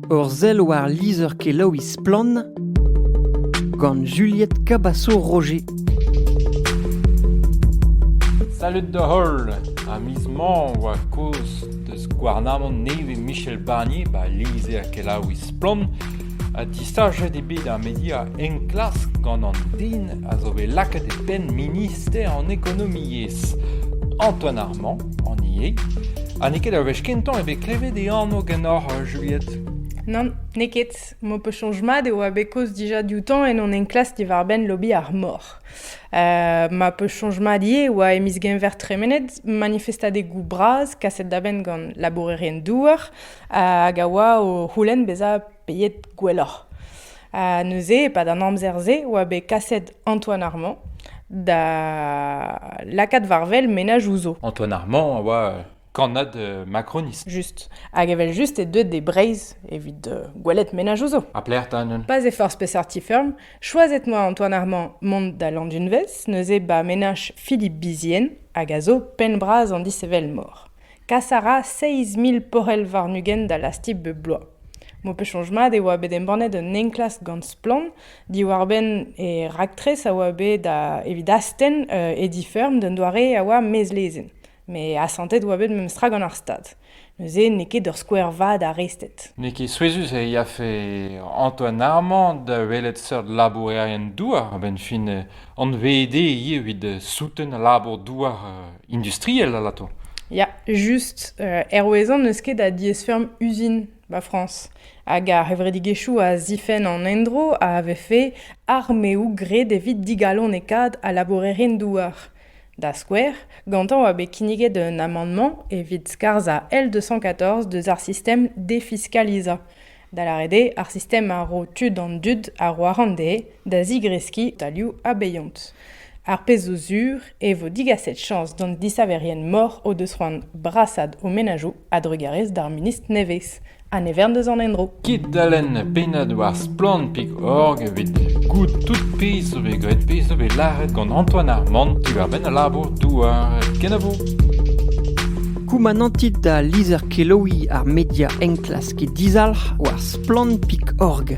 Ur sell war lizher-kelaouiñ Splann! gant Juliette Cabasso-Roger. Salud da holl! Ha miz mañ 'oa kozh deus gouarnamant nevez Michel Barnier 'ba lizher-kelaouiñ Splann! ha distaget eo bet ar media enklask gant an den a zo bet lakaet e penn minister an ekonomiezh Antoine Armand An ivez. Ha n'eo ket ur wech kentañ eo bet klevet e anv ganeoc'h, Juliette. Nann, n'eo ket. M'ho peus soñj mat e oa bet kaoz dija dioutañ en hon enklask diwar-benn lobby ar mor. Uh, ma peus soñj mat ivez e oa e miz Genver tremenet manifestadegoù bras kaset da benn gant labourerien-douar hag a oa o c'houlenn bezañ Beet gwelloc'h. Ha neuze, e-pad an amzer-se, oa bet kaset Antoine Armand da lakaat war-wel menaj ouzo. Antoine Armand a oa euh, kannad euh, macronist. Just. Hag evel just eo deuet de Breizh evit euh, gwelet menaj ouzo. Ha plec'h ta neuze? Pas e forzh peseurt ti feurm, choiset-moi Antoine Armand mont da Landunvez, neuze ba menaj Philippe Bizien, hag a zo penn-bras an dishevelmor. Kas a ra seizh mil porc'hell warn-ugent da lastik bep bloaz. M'ho peus soñj mat e oa bet embannet un enklask gant Splann! diwar-benn e raktres a oa bet da evit astenn Ediferm d'un doare a oa mezlezenn. Met asantet oa bet memestra gant ar Stad. Neuze n'eo ket ur skouer vat ar rested. N'eo ket souezhus e yafe Antoine Armand da welet seurt labourerien douar a-benn fin anvet ivit souten al labour douar industriel alato. Ya, just. Euh, hervezan n'eus ket a diaesfeurm uzin 'ba Frañs. Hag ar c'hevredigezhioù a zifenn an endro a vefe armeoù graet evit digalonekaat al labourerien-douar. Da skouer, gantañ oa bet kinniget un amandement evit skarzhañ L214 deus ar sistem defiscalizañ. da lâret eo ar sistem a ro tud an dud a ro arc'hant dezhe da zigreskiñ talioù abeiont. Ar pezh zo sur e vo digaset chañs d'an disaverien-mor o deus c'hoant brasaat o menajoù a-drugarez d'ar ministr nevez ha ne vern deus an endro. Kit da lenn pennad war splann.org evit goût tout pezh zo bet graet pezh zo bet lâret gant Antoine Armand diwar-benn al labour-douar kenavo. Koumanantit da lizher kelaouiñ ar media enklas get dizalc'h war splann.org.